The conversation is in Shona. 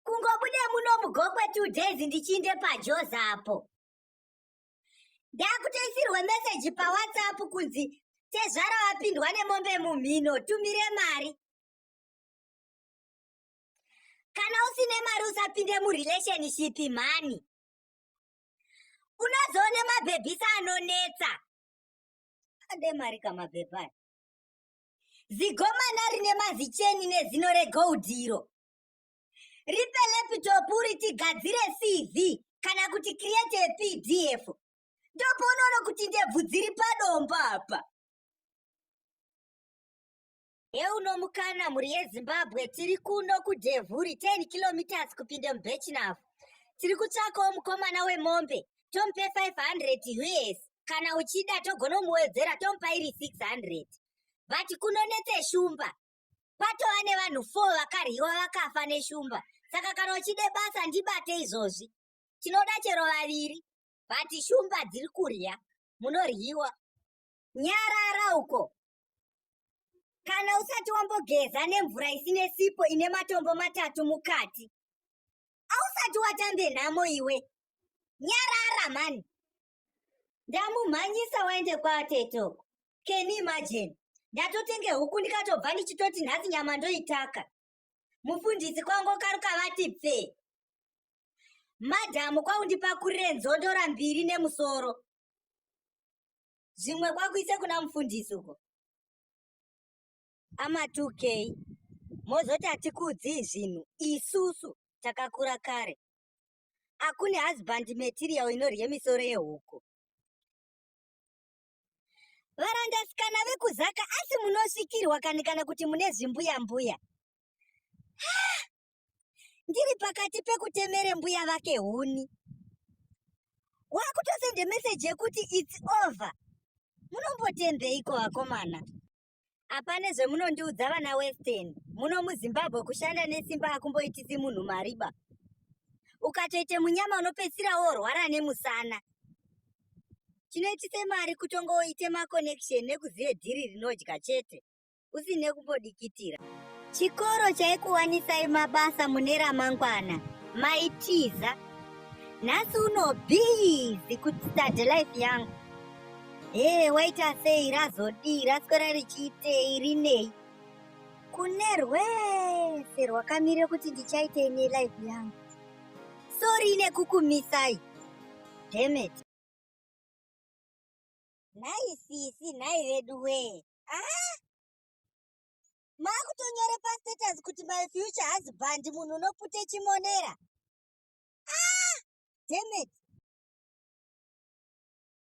kungobude muno mugokwe two days ndichiinde pajoza apo ndakutoisirwe meseji pawhatsapp kunzi tezvara wapindwa nemombe mumhino tumire mari kana usine mari usapinde murelationship mhani unozoone mabhebhisa anonetsa ade mari kamabhebhani zigomana rine mazicheni nezino regold iro ripe lepitopu ritigadzire cv kana kuti create a pdf ndopoonoona kuti ndebvu dziri padombo apa yeunomukana mhuri yezimbabwe tiri kuno kudhevhuri 10 kilometers kupinda mubechinavo tiri kutsvakawo mukomana wemombe tomupe 500 us kana uchida togonomuwedzera tomupa iri 600 vati kunonetse shumba kwatova nevanhu four vakaryiwa vakafa neshumba saka kana uchide basa ndibate izvozvi tinoda chero vaviri but shumba dziri kurya munoryiwa nyarara uko kana usati wambogeza nemvura isine sipo ine matombo matatu mukati ausati watambe nhamo iwe nyarara mani ndamumhanyisa waende kwaatete uko can you imagine ndatotenge huku ndikatobva ndichitoti nhasi nyama ndoitaka mufundisi kwangu karuka vati pfee madhamu kwaundipakurire nzondora mbiri nemusoro zvimwe kwakuise kuna mufundisi uko amatukei mozoti hatikuudzii zvinhu isusu takakura kare akune husband material inorye misoro yehuku varandasikana vekuzaka asi munosvikirwa kani kana kuti mune zvimbuya mbuya ndiri pakati pekutemere mbuya vake huni wakutosende meseji yekuti its over munombotembeiko vakomana apane zvemunondiudza vana western muno muzimbabwe kushanda nesimba akumboitisi munhu mariba ukatoite munyama unopedzisira worwara nemusana chinoitise mari kutonga woite maconnection nekuzive dhiri rinodya chete usine kumbodikitira chikoro chaikuwanisai mabasa mune ramangwana maitiza nhasi uno bhizi kutstadelife yangu hee waita sei razodii raswera richiitei rinei kune rwese rwakamire kuti ndichaitei nelife yangu sori nekukumisai demet nhai sisi nhai vedu wee aa maakutonyore pastatus kuti my future husband munhu unopute chimonera aa demet